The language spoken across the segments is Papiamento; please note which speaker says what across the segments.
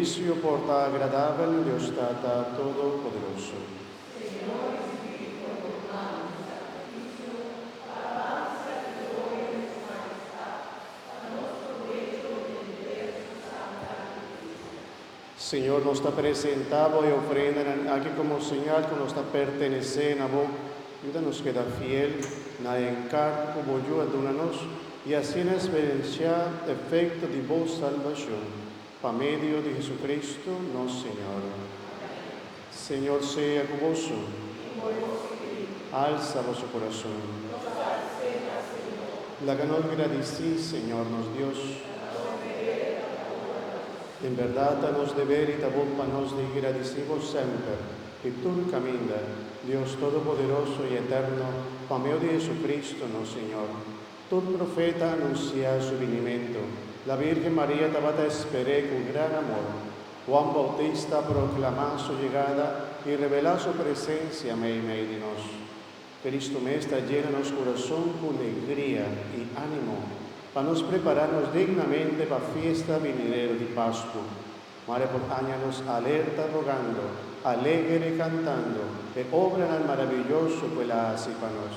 Speaker 1: Juicio por ta agradabel na Dios Tata Todopoderoso. Señor di Spiritu por bo mano di sacrificio, pa alabanza y gloria di su Majestad, pa nos provecho y entender su santa Iglesia. Señor, nos ta presenta bo e ofrendanan aki como señal cu nos ta pertenece na bo. Yuda nos keda fiel na e encargo cu bo yu a duna nos y asina experiencia efecto di bo salbacion. Pa medio di Jesucristo nos Señor. Señor sea cu boso. Alsa boso corazon. Laga nos gradici Señor nos Dios. En berdad ta nos deber y ta bon pa nos di gradici bo semper y tur caminda, Dios Todopoderoso y Eterno, pa meo di Jesucristo nos Señor. Tur profeta a anunsiá su binimentu. La Bírgen Maria tabata esper'é ku gran amor. Juan Boutista a proklamá su yegada i rebelá su presensia meimei di nos. Kristu mes ta yena nos kurason ku legria i ánimo pa nos prepará nos dignamente pa fiesta binideru di Pasku. Mari por aña nos alerta rogando, alegre kantando e obranan marabiyoso ku el a hasi pa nos.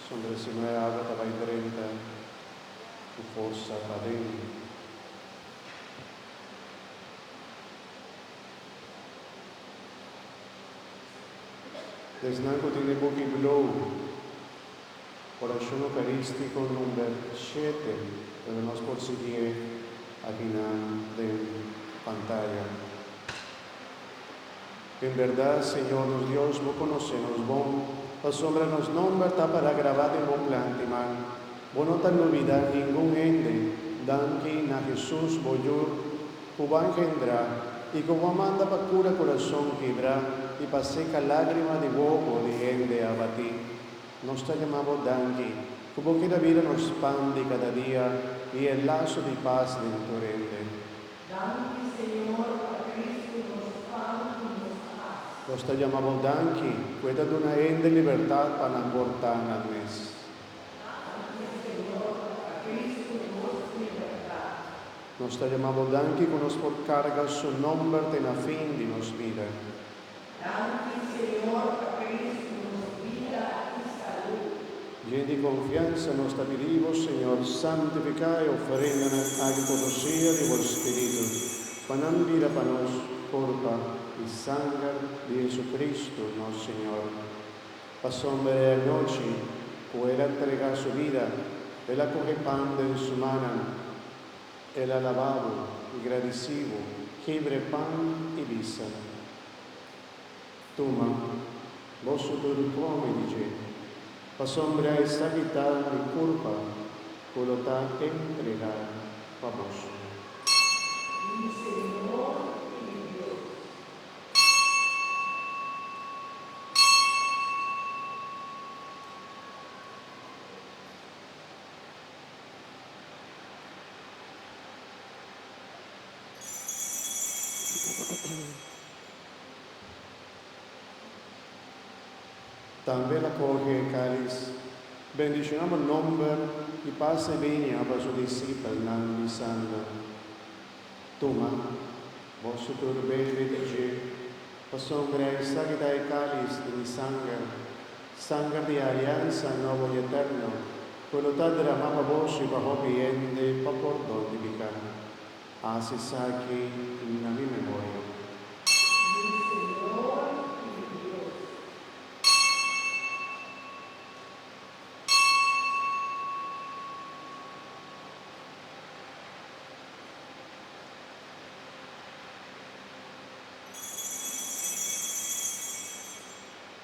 Speaker 1: Sondre si no e agua ta bai drenta cu forsa paden. Esnan cu tin e buki Glow, Oracion Eucaristico number shete, pero nos por sigie aki nan den pantaya. En berdad, Señor nos Dios, Bo conoce nos bon, pasobra nos nomber ta para grabá den Bo plan di mal. Bo no ta lubidá ningun hende, danki na Jesús, Bo Yu, cu Bo a engendrá i cu Bo a manda pa cura curazon kibrá i pa seca lágrima di wobo di hende abatí. Nos ta yama Bo danki cu Bo keda bira nos pan di cada dia i e laso di pas den tur hende. Danki, Señor, pa Cristo nos pan i nos pas. Nos ta yama bo danki ku e ta duna hende libertat pa nan por ta nan mes. Danki, Señor, pa Cristo nos libertat. Nos ta yama bo danki ku nos por karga Su nòmber te na fin di nos bida. Djen di konfiansa nos ta pidi bo, Señor, santifiká e ofrendanan aki ku nos siña di bo Spiritu, pa nan bira pa nos korpa i sanger di JesuCristu, nos Señor. Pasobra e anochi ku el a ntregá su bida, el a kuge pan den su manan. El a laba bo i gradisí bo. Kebre pan i bisa, Tuma, boso tur di kome di dje, pasobra e sabi ta mi kurpa ku lo ta entregá pa boso. Mi Señor i mi Dios. Tambe el a coge e caliz, bendicionaba nomber y pasa e benia pa su discipelnan bisando, Tuma, boso tur bebe di dje, pasobra esaki ta e caliz di mi sanger. Sanger di aliansa nobo i eterno, ku lo ta dramá pa bos i pa hopi hende pa pordon di piká. Hasi esaki na mi memoria. Mi Señor i mi Dios.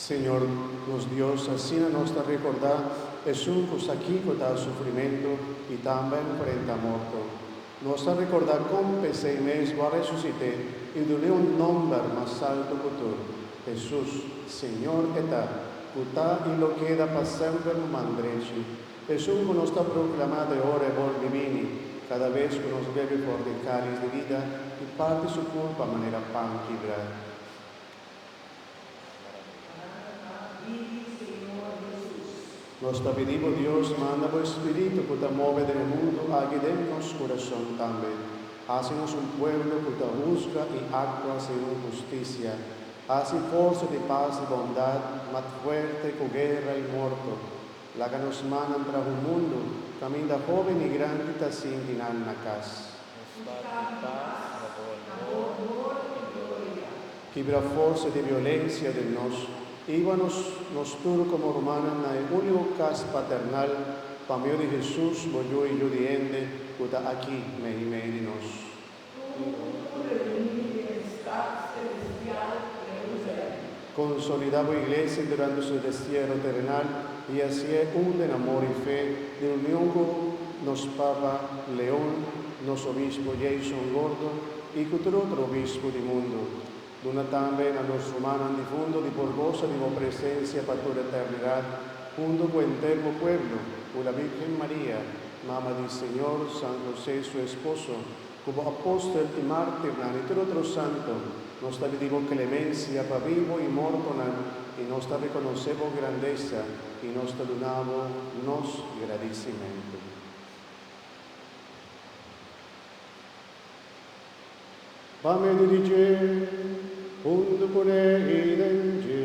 Speaker 1: Señor nos Dios, asina nos ta rekordá esun ku Sakiko ta sufrimentu i ta amba enfrenta morto. Nos ta rekordá kon p'esei mes bo a resusit'é i dun'é un nòmber mas altu ku tur, Hesus, Señor e ta, ku ta i lo keda pa semper bo man drechi. Esun ku nos ta proklamá te ora e bolbe bini, kada bes ku nos bebe for te kális di vida i parti su kurpa manera pan kibrá. Nos ta pidi bo, Dios, manda bo e Spiritu ku ta move den e mundu aki den nos kurashon tambe. Hasi nos un pueblo ku ta husga i aktua segun hustisia. Hasi forsa di pas i bondat, mat fuerte ku guera i morto. Laga nos mannan trahu mundu, kaminda hoben i grandi ta sinti nan na kas. Nos ta di pas na bo onor i gloria. Kibra forsa di violensia den nos i hiba nos nos tur komo rumannan na e único kas paternal pa medio di Hesus bo yu i yu di hende ku ta aki na e meyu di nos. Tur un tur reuni den e stad selestial Jerusalem. Konsolidá bo iglesia durante su destiero terenal i hasié un den amor i fe, den union ku nos Papa Leon, nos Obispo Jason Gordo i ku tur otro obispo di mundu. Duna tambe na nos rumannan difunto di por gosa di bo presensia pa tur eternidat, huntu ku henter bo pueblo, ku la Bírgen Maria, Mama di Señor, San José su esposo, Ku bo apòstel i mártirnan i tur otro santo, nos ta pidi bo klemensia pa bibo i mortonan, i nos ta rekonosé bo grandesa i nos ta duna bo nos gradisimentu. Pa medio di dje, huntu ku e heiden dje.